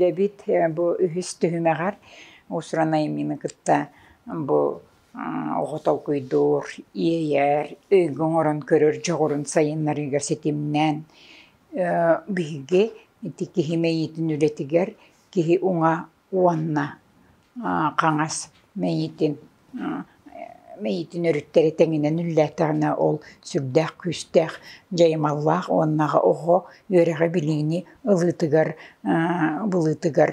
Дэбит бу үһүс түһүмэҕэр усранай миины кытта бу оҕо толкуйдуур, иэйэр, өйгө оҥорон көрөр дьоҕурун сайыннарыыга ситимнээн биһиги ити киһи мэйиитин үлэтигэр киһи уҥа уонна хаҥас мэйиитин мэйиитин өрүттэри тэҥинэн үллээтэҕинэ ол сүрдээх күүстээх дьайымаллаах уонна оҕо үөрэҕи билиини ылыытыгар былыытыгар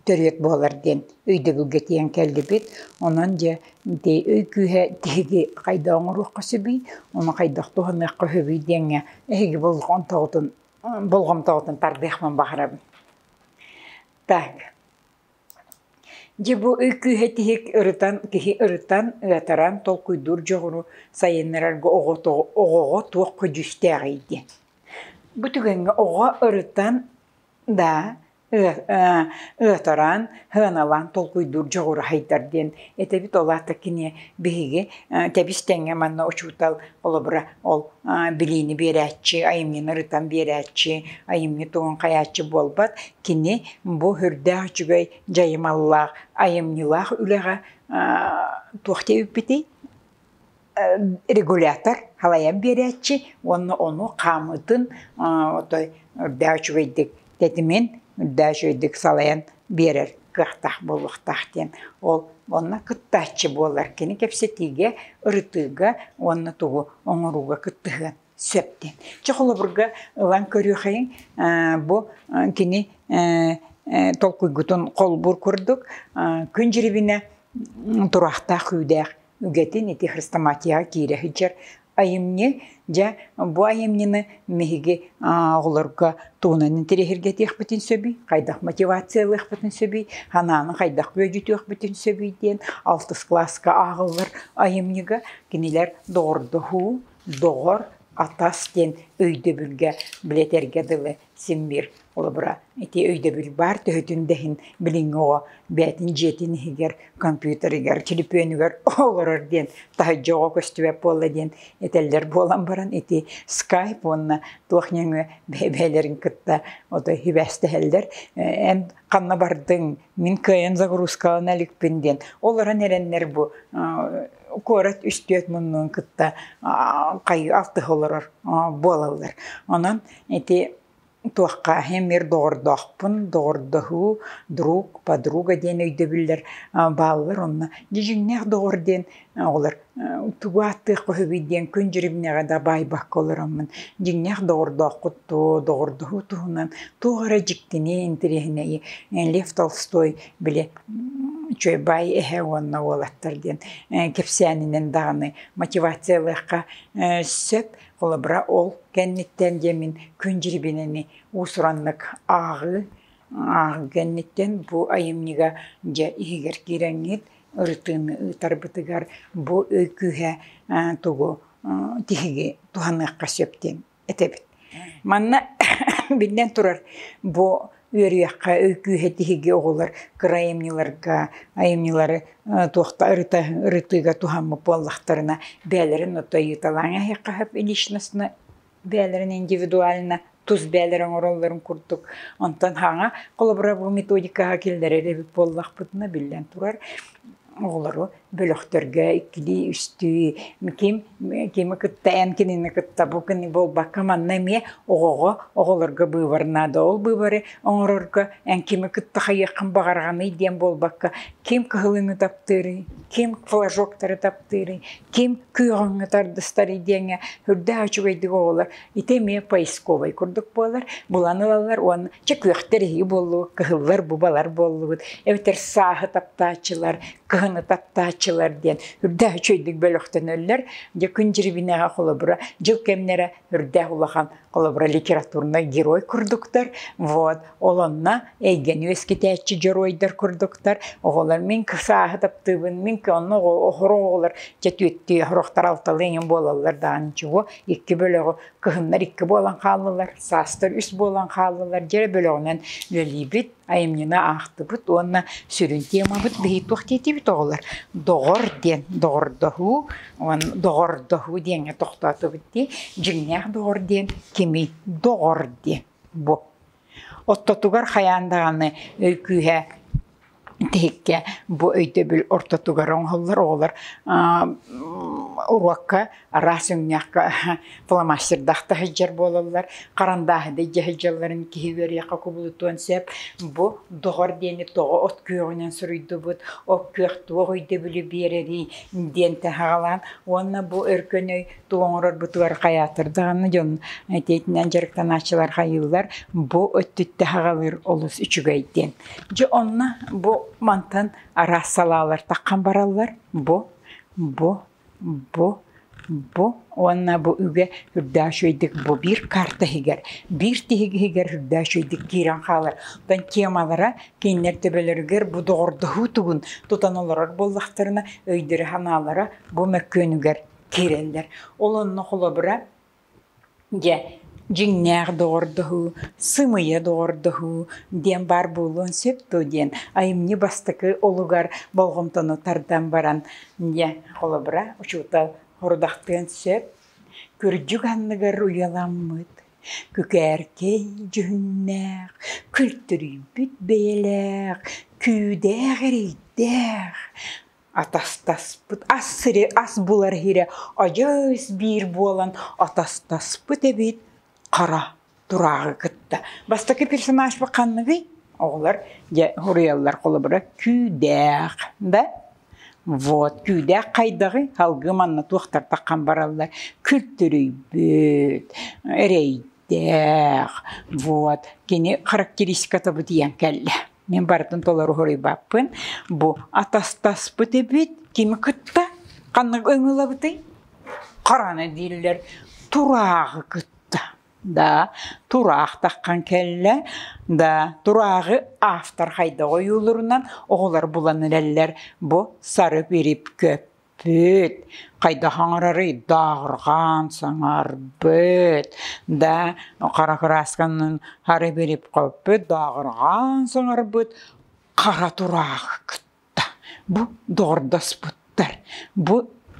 төрүөт буолар диэн өйдөбүлгэ тиийэн кэллибит онон дьэ ити өй күүһэ тиһиги хайдах оҥоруохха сөбүй ону хайдах туһаныахха сөбүй диэҥҥэ эһиги болҕомтоҕутун болҕомтоҕутун тардыахпын баҕарабын так Дьэ бу ый кыыһа тиһик ырытан киһи ырытан ытатаран толкуйдуур дьоҕуру сайыннарарга оҕото оҕоҕо туох көдьүүстээҕий диэн. Бу түгэҥҥэ оҕо ырытан да ытаран сыаналаан толкуйдуур дьоҕура сайдар диэн этэбит ол аата кини биһиги тэбис тэҥҥэ манна учуутал холобура Ол билиини биэрээччи, айымньыны ырытан биэрээччи, айымньы тугун хайааччы буолбат. Кини бу үрдээх үчүгэй дьайымаллаах, айымньылаах үлэҕэ туох диэбиппитий? регулятор халайан биэрээччи уонна ону хаамытын отой үрдээх үчүгэйдик тэтимин үрдээч өйдүк салайан биэрэр кыахтаах буолуохтаах диэн ол онно кыттааччы буолар кини кэпсэтиигэ ырытыыга уонна тугу оҥорууга кыттыһыан сөп диэн чэ холобурга ылан көрүөхэйиҥ бу кини толкуйгутун холбуур курдук күн дьирибинэ тураахтаах күүдээх үгэтин ити хрестоматияҕа киирэ сылдьар айымньы дьэ бу айымньыны биһиги оҕолорго тугунан интэриэһиргэтиэхпитин сөбүй хайдах мотивациялыахпытын сөбүй санааны хайдах бүөдьүтүөхпүтүн сөбүй диэн алтыс кылааска ааҕыллар айымньыга кинилэр доҕордоһуу доҕор атас диэн өйдөбүлгэ билэтэргэ дылы симмиир холобура ити өйдөбүл баар төһөтүн да иһин билиҥҥи оҕо бэйэтин дьиэтин иһигэр компьютерыгар телепүөнүгэр олорор диэн таһырдьа оҕо көстүбэт буолла диэн этэллэр буолан баран ити скайп уонна туох нөҥүө бэйэ-бэйэлэрин кытта ото сибээстэһэллэр эн ханна бардыҥ, мин кыайан загрузкалана иликпин диэн. Ол баран эрэннэр бу куорат үстүөт муннуун кытта хайыы алтыһа олорор буолаллар. Онон ити туохха эһэм мир доҕордоохпун, доҕордоһуу, друг, подруга диэн өйдөбүллэр бааллар онно. Дьиҥнээх доҕор диэн оҕолор тугу ааттыахха үһүгүй диэн күн дьиримнэҕэ да баайбакка олороммун дьиҥнээх доҕордооххут дуо доҕордоһуу туһунан туох эрэ дьиктини интэриэһинэйи лев толстой били чуйбай эһэ уонна уолаттар диэн кэпсээнинэн даҕаны мотивация ылыахха сөп холобура ол кэнниттэн дьэ мин күн дьирибинэни уусураннык ааҕыы ааҕыы кэнниттэн бу айымньыга дьэ иһигэр киирэҥҥит ырытыыны ыытарбытыгар бу ый күүһэ тугу тиһиги туһаныахха сөп диэн этэбит. Манна биллэн турар бу үөрүйэххэ ый күүһэ тиһиги оҕолор кыра айымньыларга айымньылары туохта ырытыыга туһаммыт буоллахтарына бэйэлэрин ото ыйыталаан иһиэххэ сөп личностно бэйэлэрин индивидуально тус бэйэлэрэ оҥороллорун курдук онтон хаҥа холобура методикаҕа киллэрэр эбит буоллахпытына биллэн турар оҕолору бөлөхтөргө иккилии үстүү ким кими кытта эн кинини кытта бу күні буолбакка манна эмиэ оҕоҕо оҕолорго быыбар наада ол быыбары оҥорорго эн кими кытта хайыаххын баҕарҕаный диэн буолбакка ким кыһылыҥы таптыырый ким флажоктары таптыырыҥ, ким күүһүҥҥэ тардыстарый диэҥҥэ үрдээх үчүгэйдик оҕолор ити эмиэ поисковай курдук буолар, булан ылаллар уонна чэ күөхтэр эһиги буоллугут, кыһыллар бубалар буоллугут, эбэтэр сааһы таптааччылар, кыһыны таптааччылар диэн үрдээх үчүгэйдик бөлөхтөнөллөр. Дьэ күн дьирибинэҕэ холобура дьыл кэмнэрэ үрдээх улахан холобура литературнай герой курдуктар вот ол онно эйгэни үөскэтээччи дьоруойдар курдуктар оҕолор мин сааһы таптыыбын мин онно оһоро оҕолор дьэ түөттүү оһорохтор алталыыҥын буолаллар даан чугу икки бөлөҕү кыһыннар икки буолан хааллылар саастар үс буолан хааллылар дьэ бөлөҕүнэн үлэлиибит айымньыны аахтыбыт уонна сүрүн темабыт диһи туох диэтибит оҕолор доҕор диэн доҕордоһуу уонна доҕордоһуу диэҥҥэ тохтоотубут дии дьиҥнээх доҕор диэн кимий доҕор диэн бу ортотугар хайаан даҕаны күүһэ тиһиккэ бу өйдөбүл ортотугар оҥоһуллар оҕолор уруокка араас өҥнөөххө фломастердах сылдьар буолаллар харандааһыдай дьаһайдьалларын киһи үөриэххэ кубулутуон сөп бу доҕор диэни тоҕо от күөҕүнэн суруйдубут от күөх туох өйдөбүлү биэрэрий диэн таһаҕалаан уонна бу өркөн өй тугу оҥорор бутугар хайаатыр даҕаны дьон этиитинэн дьарыктанааччылар хайыылар бу өттүттэ хаҕалыыр олус үчүгэй диэн дьэ онно бу мантан араас салаалар таххан бараллар бу бу Бу, бу уонна бу үгэ үрдээх үчүгэйдик бу биир карта иһигэр, биир тиһик иһигэр үрдээх үчүгэйдик киирэн хаалар. Оттон темалара кинилэр төбөлөрүгэр бу доҕордоһуу тугун тутан олорор буоллахтарына өйдөрө-санаалара бу мөккүөнүгэр киирэллэр. Ол онно холобура Дьэ, дьиҥнээх доҕордоһуу, сымыйа доҕордоһуу диэн баар буолуон сөп дуо диэн айымньы бастакы олугар болҕомтону тардан баран дьэ холобура учуутал хорудахтыан сөп. Кырдьык анныгар уйаламмыт, күкээркэй дьүһүннээх, күлтүрүйбүт бэйэлээх, күүдээх эрэйдээх атастаспыт ас сири ас булар иһирэ одьыыс биир буолан атастаспыт эбит хара турааҕы кытта бастакы персонажпыт ханныгый оҕолор дьэ суруйаллар холобура күүдээх да вот күүдээх хайдаҕый салгыы манна туохтар таххан бараллар күлтүрүйбүт эрэй Тээх, вот, кини характеристикатабы тиийэн кэллэ. Мин барытын толору хоруйбаппын. Бу атастаспыт эбит. Кими кытта ханнык ыҥылабытый? Хараны дииллэр. Тураахы кытта. Да, тураах таххан кэллэ. Да, тураахы автор хайда ойуулурунан оҕолор булан илэллэр. Бу сары пирипкөп. Бүт, хайдах оҥороруй? Дооҕурҕаан, саҥарбыт, да хара кыраасканын хары билип хоппут, дооҕурҕаан саҥарбыт, хара тураах кытта. Бу доҕордоспуттар. Бу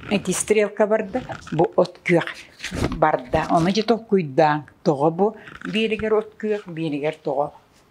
ити стрелка барда, бу от күөх барда. Ону дьэ толкуйдааҥ, тоҕо бу биилигэр от күөх, биилигэр тоҕо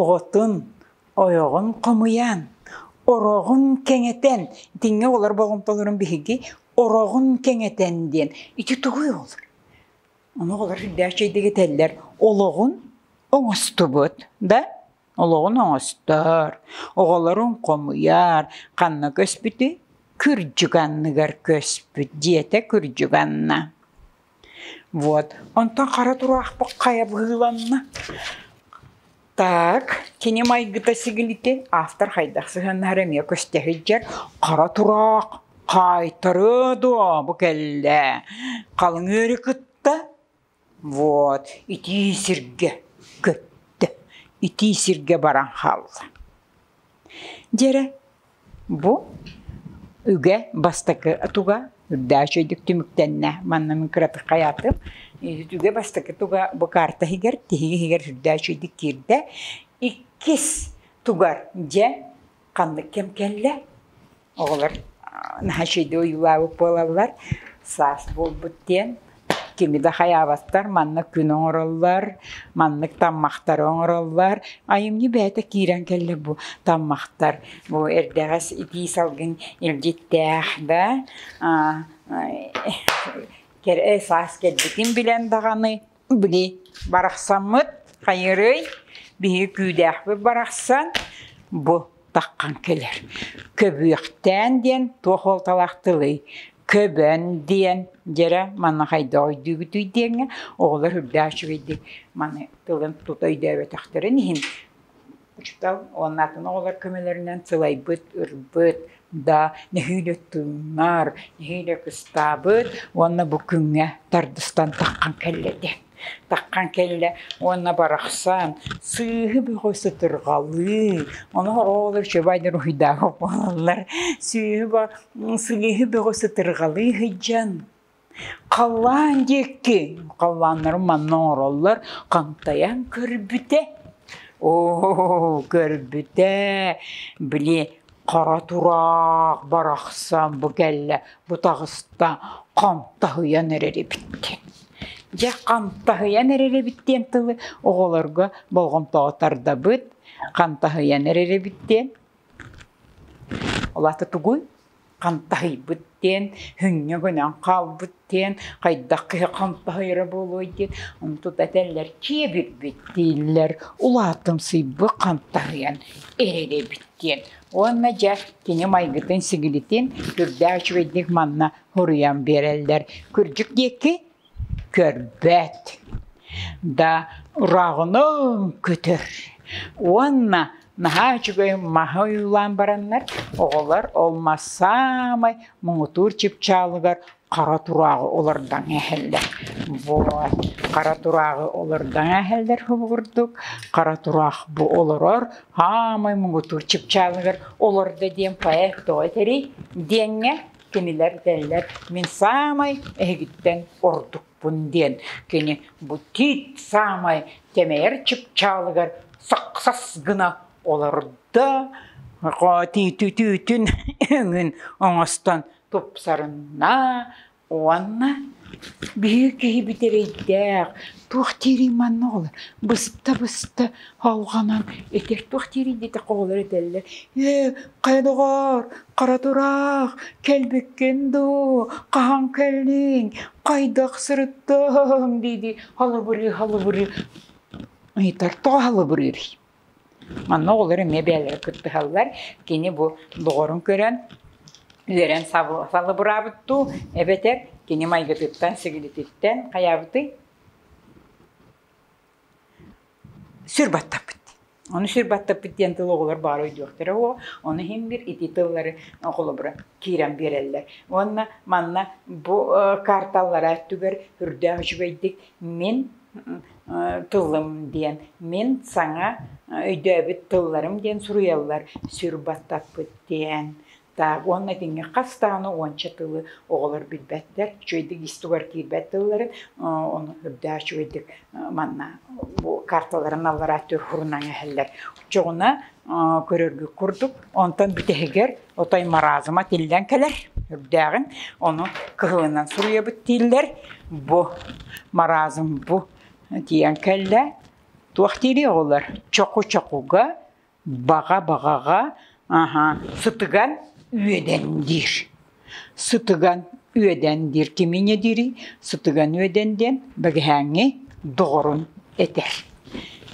Оҕотун, ойоҕун хомуйан, ороҕун кэҥэтэн, итинҥэ олор болҕомтолорун биһиги ороҕун кэҥэтэн диэн ити тугуй ол? Ону оҕолор үрдээх чэйдик этэллэр, олоҕун оҥостубут, да? Олоҕун оҥостор, оҕолорун хомуйар, ханна көспүтүй? Кырдьык анныгар көспүт, диэтэ кырдьык Анна. Вот, онтон хара тураахпыт хайа быһыыланна. Так, кини майгыта сигилитин автор хайдах сыһыаннаһара эмиэ көстө сылдьар. Хара тураах хаайтарыа дуо бу кэллэ. Халыҥ ыары кытта. Вот, итии сиргэ көттө. Итии сиргэ баран хаалла. Дьэрэ, бу үгэ бастакы туга үрдээх үчүгэйдик түмүктэннэ. Манна мин кыратык хайаатым. Үгэ бастакы туга бу карта иһигэр, тиһиги иһигэр үрдээх үчүгэйдик киирдэ. Иккис тугар, дьэ, ханнык кэм кэллэ? Оҕолор наһачыйда ойуулаабыт буолаллар, саас буолбут диэн. Кими да хайаабаттар, манна күн оҥороллор, маннык таммахтары оҥороллор. Айымньы бэйэтэ киирэн кэллэ бу таммахтар. Бу эрдэҕэс итии салгын илдьиттээх да, саас кэлбитин билэн даҕаны били барахсаммыт хайырый биһиги күүдээхпит барахсан бу таххан кэлэр көбүөхтээн диэн туох уолталаах тылый көбөн диэн дьэрэ манна хайдах өйдүүгүтүй диэҥҥэ оҕолор үрдээх үчүгэйдик маны тылын тута өйдөөбөтөхтөрүн иһин учуутал уонна атын оҕолор көмөлөрүнэн сылайбыт, ырбыт, да нэһиилэ тыынар, нэһиилэ кыстаабыт уонна бу күҥҥэ тардыстан таххан кэллэ диэн. Таххан кэллэ уонна барахсан сыыһы бөҕө сытырҕалыы, ону оҕолор чөбайдар уһуйдааҕа буолаллар, сыыһы сыыһы бөҕө сытырҕалыы сыдьан Халлаан диэки халлааннарын манна оҥороллор хантайан көрбүтэ оо көрбүтэ били хара тураах барахсан бу кэллэ бу таҕыста хантаһыйан эрэр эбит диэн дьэ хантаһыйан эрэр эбит диэн тылы оҕолорго болҕомтоҕо тардабыт хантаһыйан эрэр эбит диэн Ол аата тугуй? Хантаһыйбыт диэн, хүҥҥэ гынан хаалбыт диэн, хайдах киһи хантаһыйара буолуой диэн, ону тута этэллэр киэбирбит дииллэр. Улаатымсыйбыт хантаһыйан ириэрэбит диэн. Уонна дьэ кини майгытын-сигилитин үрдээх үчүгэйдик манна хоруйан биэрэллэр. Кырдьык диэки көрбөт да ороҕунун көтөр уонна наһаа үчүгэй маһы ойуулаан бараннар оҕолор ол мас саамай муҥутуур чыпчаалыгар хара турааҕы олордон иһэллэр вот хара турааҕы олордон иһэллэр курдук хара тураах бу олорор саамай муҥутуур чыпчаалыгар олордо диэн поэт тоҕо этэрий диэҥҥэ Кинилэр этэллэр, мин саамай эһигиттэн ордукпун диэн. Кини бу тиит саамай кэмэйэр чыпчаалыгар сахсас гына олордо, тиитүтүүтүн өҥүн оҥостон тупсарынна уонна биһиги киһи бүтэрэйдээх, туох диирий манна оҕолор, быста-быста алҕанан ити туох диирий диэтэх оҕолор этэллэр, ээ Хайа, доҕоор, хара тураах, кэлбиккин дуу, хаһан кэллиҥ, хайдах сырыттыҥ? дии-дии халыбырыы-халыбырыы ыйытар. Тоҕо халыбырыырый? Манна оҕолор эмиэ бэйэлэрэ кыттыһаллар. Кини бу доҕорун көрөн, үөрэн сабы- салыбыраабыт дуу, эбэтэр кини майгытыттан, сигилититтэн хайаабытый? Сүр баттаппыт. Ону сүр баттаппыт диэн тыл оҕолор баара өйдүөхтэрэ уо. Ону иһин биир итии тыллары оҕолоро киирэн биэрэллэр. Уонна манна бу карталара өттүгэр үрдээх үчүгэйдик мин тылым диэн, мин саҥа өйдөөбүт тылларым диэн суруйаллар. Сүр баттаппыт диэн. таах уонна итинҥэ хас даҕаны уонча тылы оҕолор билбэттэр, үчүгэйдик ис тугар киирбэт тылларын, ону үрдээх үчүгэйдик манна бу карталарын аллараа төр фурунан эһэллэр. Оччоҕуна көрөргү курдук, онтон бүтэһигэр отой маразма тиллэн кэлэр үрдээҕин, ону кыһылынан суруйабыт дииллэр. Бу маразм бу тиийэн кэллэ. Туох диирий оҕолор? Чоку-чокуга Баҕа-баҕаҕа сытыган үөдэн диир. Сытыган үөдэн диир кимиҥэ диирий? Сытыган үөдэн диэн бэгэһээҥҥи доҕорун этэр.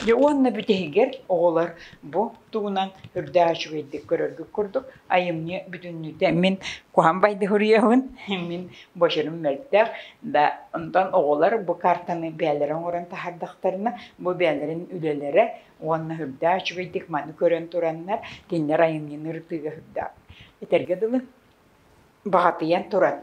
Дьэ уонна бүтэһигэр оҕолор бу тугунан үрдээх үчүгэйдик көрөргүт курдук айымньы бүтүннүүтэ мин куһан байдыһуруйабын, мин бочурум мөлтөх да онтон оҕолор бу картаны бэйэлэрэ оҥорон таһардахтарына бу бэйэлэрин үлэлэрэ уонна үрдээ үчүгэйдик маны көрөн тураннар кинилэр айымньыны ырытыыга үрдээх. Этэргэ дылы, баҕатыйан туран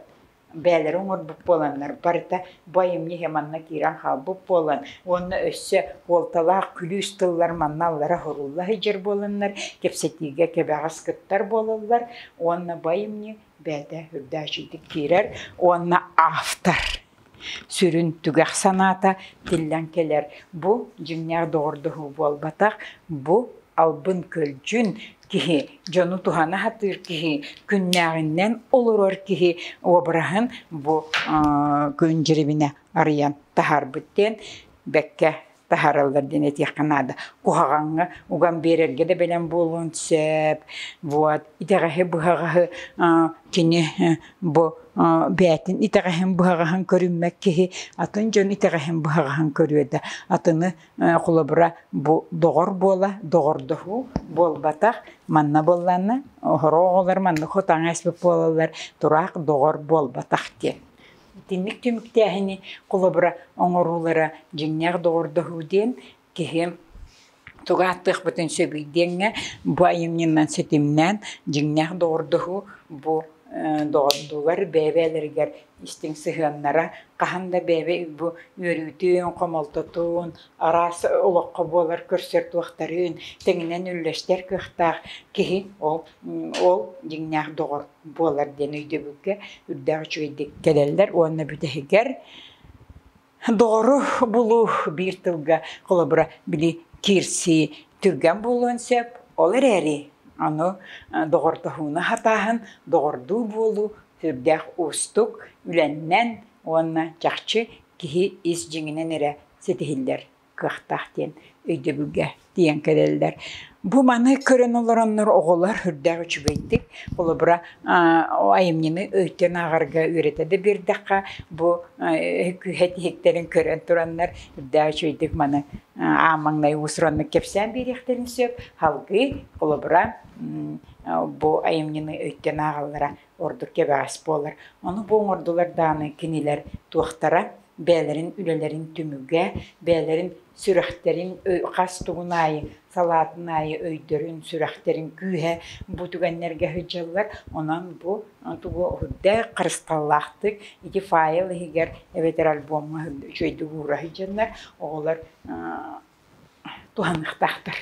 бэйэлэрэ оҥорбут буоланнар барыта бу айымньы иһэ манна киирэн хаалбыт буолан уонна өссө уолталаах күлүүс тыллар манна аллара һурулла сылдьар буоланнар кэпсэтиигэ кэбэҕэс кыттар буолаллар уонна бу айымньы бэйэтэ үрдээччитик киирэр уонна автор сүрүн түгэх санаата тиллэн кэлэр бу дьиҥнээх доҕордоһуу буолбатах бу албын көлдьүн киһи дьону туһана сатыыр киһи күннээҕиннэн олорор киһи обраһын бу күн дьирибинэ арыйан таһаарбыт диэн бэккэ таһаараллар диэн этиэххэ наада. Куһаҕаҥҥа уган биэрэргэ да бэлэм буолуон сөп. Вот, итэҕэһи быһаҕаһы кини бу бээтин итэҕэһин быһаҕаһын көрүммэт киһи атын дьон итэҕэһин быһаҕаһын көрүө да атыны холобура бу доҕор буола доҕордоһуу буолбатах манна буолланна оҕолор манна хатаҥ эспит буолаллар тураах доҕор буолбатах диэн Итинник түмүктээһини холобура оҥоруулара дьиҥнээх доҕордоһуу диэн киһи тугу ааттыахпытын сөбүй диэҥҥэ бу айымньынан ситимнээн дьиҥнээх доҕордоһуу бу доҕордуулар бэйэ-бэйэлэригэр истиҥ сыһыаннара хаһан да бэйэбэ бу үөрүүтүн, хомолтотун, араас олоххо буолар көрсөр туохтарын тэҥинэн үллэстэр кыахтаах киһи ол Ол дьиҥнээх доҕор буолар диэн өйдөбүлгэ үрдээх үчүгэйдик кэлэллэр уонна бүтэһигэр доҕору булуу биир тылга холобура били киирсии түргэн буолуон сөп. Ол эрээри аны доҕордоһууну хатааһын, доҕордуу буолуу сүрдээх уустук, үлэннэн уонна чахчы киһи ис дьиҥинэн эрэ ситиһиллэр. кыахтаах диэн өйдөбүлгэ тиийэн кэлэллэр. Бу маны көрөн олороннор оҕолор үрдээх үчүгэйдик, холобура айымньыны өйтөн ааҕарга үөрэтэ да биэрдэххэ, бу күүһэ тиһиктэрин көрөн тураннар үрдээх үчүгэйдик маны аамаҥнай уусураннык кэпсээн биэриэхтэрин сөп. Халгыы, холобура, бу айымньыны өйтөн ааҕаллара ордук кэбэҕэс буолар. Ону бу оҥордулар даҕаны кинилэр туохтара бэйэлэрин үлэлэрин түмүгэ, бэйэлэрин сүрэхтэрин хас тугун аайы салаатын аайы өйдөрүн, сүрэхтэрин күүһэ бу түгэннэргэ сылдьаллар. Онон бу тугу үрдэ харысталлаахтык ити файл иһигэр эбэтэр альбомҥа үчүгэйдик уура сылдьаннар оҕолор туһаныахтаахтар.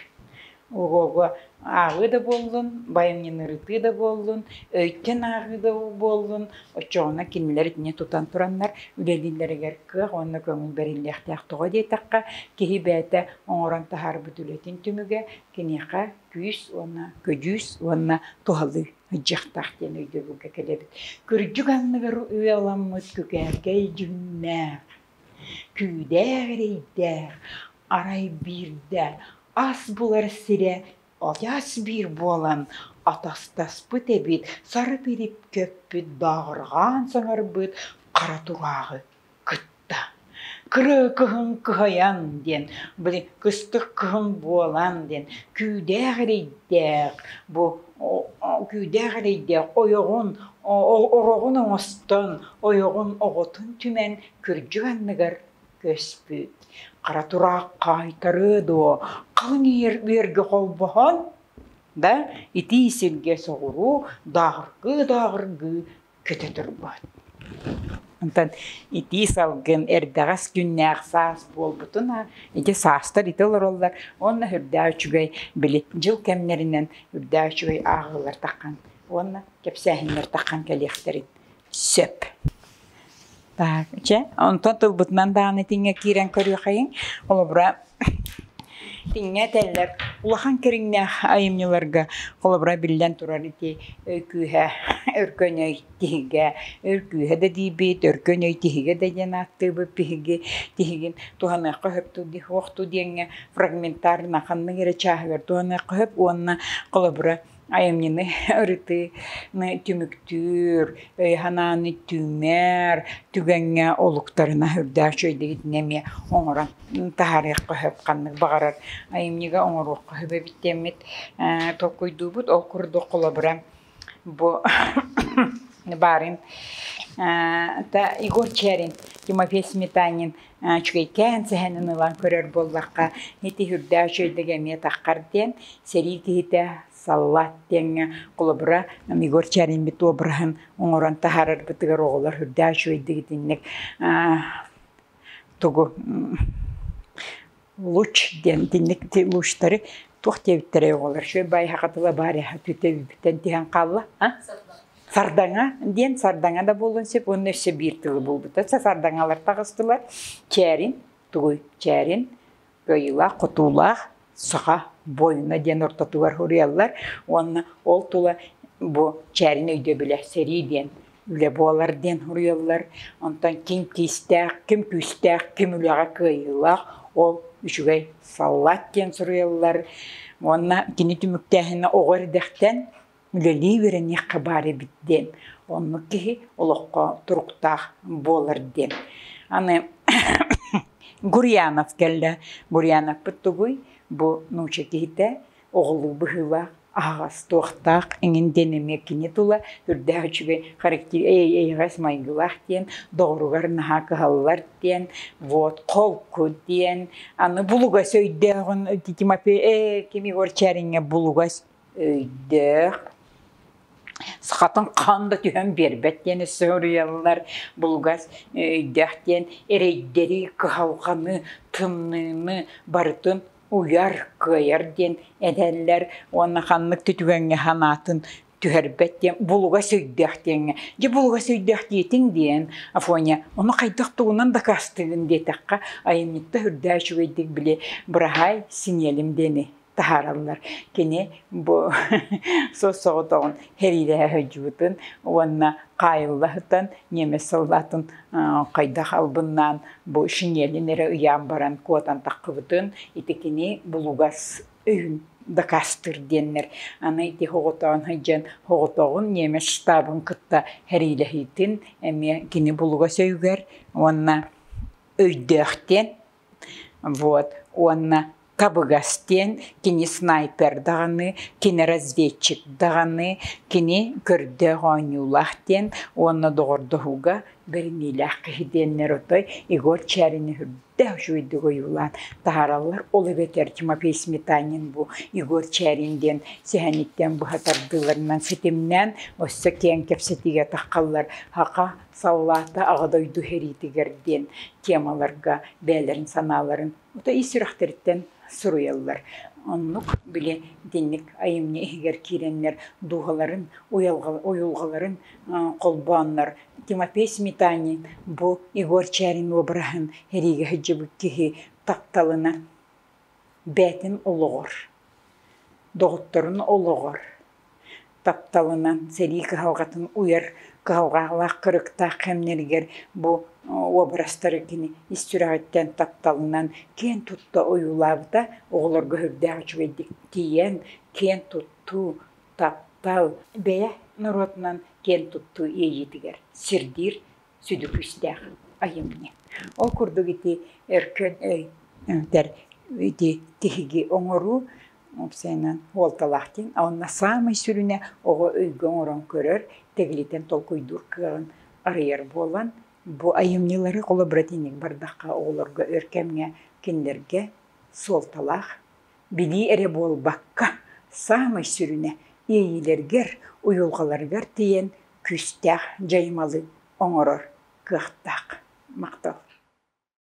Ого, ааҕыы да буоллун, байанньынырытыы да буоллун, өйтөн ааҕыы да буоллун, оччоҕуна кинилэр итини тутан тураннар үлэлииллэригэр кыах уонна көҥүл бэриллиэхтээх. Тоҕо диэтэххэ, киһи бэйэтэ оҥорон таһаарбыт үлэтин түмүгэ киниэхэ күүс уонна көдьүүс уонна туһалыы сылдьыахтаах диэн өйдөбүлгэ кэлэбит. Кырдьык анныгар ыаламмыт күкээркэй дьүҥнээх Күүдээх эрэйдээх, арай биирдэ ас булар сирэ одьас биир буолан атастаспыт эбит сарыпирip көппүт дааҕырҕаан саҥарбыт хара турааҕы кытта «Кырыы кыһын кыһайан» диэн били кыстык кыһын буолан диэн күүдээх эрэйдээх бу күүдээх эрэйдээх ойоҕун ороҕун оҥостон ойоҕун оҕотун түмэн кырдьык анныгар көспүт хара тураах хаайтарыы дуо халыҥ иэр үөргэ холбоһон да итии сиргэ соҕуруу дааҕыргыы дааҕыргыы көтө турбут. Онтон итии салгын эрдэҕэс күннээх саас буолбутуна ити саастар ити олороллор уонна үрдээ үчүгэй били дьыл кэмнэринэн үрдээ үчүгэй ааҕыылар таххан уонна кэпсээһиннэр таххан кэлиэхтэрин сөп. Так, чэ, онтон тылбытынан даҕаны тиҥҥэ киирэн көрүөхэйиҥ. Холобура, тиҥҥэ этэллэр улахан кэриҥнээх айымньыларга, холобура, биллэн турар, ити өй күүһэ өркөн өй тиһигэ, өр күүһэ да диэбит, өркөн өй тиһигэ да диэн ааттыыбыт биһиги, тиһигин туһаныахха сөп ту диэх, уох ту диэҥҥэ фрагментарно ханнык эрэ чааһыгар туһаныахха сөп уонна холобура айымньыны ырытыыны түмүктүүр, өй-санааны түҥнэр, түгэҥҥэ олуктарына үрдээх үчүгэйдик эмиэ оҥорон таһаарыахха сөп, ханнык баҕарар айымньыга оҥоруохха сөп эбит диэммит толкуйдуубут. Ол курдук холобура бу баарын Игорь Чэрин, Тимофей Сметанин үчүгэйкээн сэһэнин ылан көрөр буоллахха ити үрдээх үчүгэйдик эмиэ таххар диэн сэрии киһитэ саллаат диэҥҥэ холобура Егор Чаримбит обраһын оҥорон таһаарарбытыгар оҕолор үрдээх үчүгэйдик итинник тугу луч диэн итинник лучтары туох диэбиттэрэй оҕолор шөбайһаха тыла баарыһа түтэбиппитин тиһэн хаалла сардаҥа диэн сардаҥа да буолуон сөп уонна өссө биир тылы булбута сардаҥалар таҕыстылар чээрин тугуй чээрин кыайыылаах хотуулаах саха бойуна диэн ортотугар уруйаллар уонна ол тула бу чээрин өйдөбүлэ сэрии диэн үлэ буолар диэн суруйаллар. Онтон ким киистээх, ким күүстээх, ким үлэҕэ кыайыылаах, ол үчүгэй саллаат диэн суруйаллар. Уонна кини түмүктээһинэ оҕо эрдэхтэн үлэлии үөрэниэххэ баар эбит диэн. Оннук киһи олоххо туруктаах буолар диэн. Аны Гурьянов кэллэ. Гурьяновпыт тугуй? Бу нуучча киһитэ оҕолуу быһыылаах, аһаҕас, туохтаах эҥин диэн эмиэ кини тула үрдээх үчүгэй характер эйэҕэс майгылаах диэн доҕоругар наһаа кыһаллар диэн вот холку диэн аны булугас өйдөөҕүн Тимофей ээ ким Егор Чариҥҥа булугас өйдөөх сахатын хаан да түһэн биэрбэт диэн өссө уруйаллар булугас өйдөөх диэн эрэйдэри кыһалҕаны тымныыны барытын уйар, кыайар диэн этэллэр уонна ханнык да түгэҥҥэ санаатын түһэрбэт диэн булугас өйдөөх диэҥҥэ дьэ булугас өйдөөх диэтиҥ диэн Афоня ону хайдах тугунан дакаастыыгын диэтэххэ айанньытта үрдээ үчүгэйдик били быраһаай синиэлим диэни таһаараллар кини бу соҕотоҕун сэриилэһэ сылдьыбытын уонна хаайылла сытан немец солдатын хайдах албыннаан бу шинелин эрэ ыйаан баран куотан таххыбытын ити кини булугас өйүн дакаастыр диэннэр аны ити хоҕотоон сылдьан хоҕотоҕун немец штабын кытта сэриилэһиитин эмиэ кини булугас өйүгэр уонна өйдөөхтүөн вот уонна табыгас диэн кини снайпер даҕаны кини разведчик даҕаны кини көрдөөх оонньуулаах диэн уонна доҕордоһууга бэриниилээх киһи диэннэр отой Егор Чарин үрдээх үчүгэйдик ойуулаан таһаараллар ол эбэтэр Тимофей Сметанин бу Егор Чарин диэн сэһэниттэн быһа тардыыларынан ситимнээн өссө киэҥ кэпсэтиигэ таххаллар Хака Саллаата Аҕа дойду сэриитигэр диэн темаларга бэйэлэрин санааларын ута ис сүрэхтэриттэн суруйаллар. Оннук, били, итинник айымньы иһигэр киирэннэр дууһаларын, уйулҕаларын холбооннор Тимофей Сметанин бу Егор Чарин уобараһын эриигэ сылдьыбыт киһи тапталынан Бээтин олоҕор, доҕотторун олоҕор, тапталынан сэрии кыһалҕатын уйар кыһалҕалаах кырыктаах кэмнэригэр бу уобарастары кини ис сүрэҕиттэн тапталынан киэн тутта ойуулаабыта оҕолорго сүрдээх үчүгэйдик тиийэн киэн туттуу, таптал, бэйэ норуотунан киэн туттуу иэйиитигэр сирдиир сүдү күүстээх айымньы. Ол курдук ити Өркөн өйдер ити тиһиги оҥоруу сeenan уолталаах диэн онно саамай сүрүнэ оҕо өйгө оҥорон көрөр, тэглитэн толкуйдуур кыаҕын арыйар буолан бу айымньылары холо братиник бардахха оҕолорго өр кэмҥэ кинилэргэ суолталаах билии эрэ буолбакка саамай сүрүнэ иэйиилэргэр, уйулҕаларыгар тиийэн күүстээх дьайымалы оҥорор кыахтаах махтал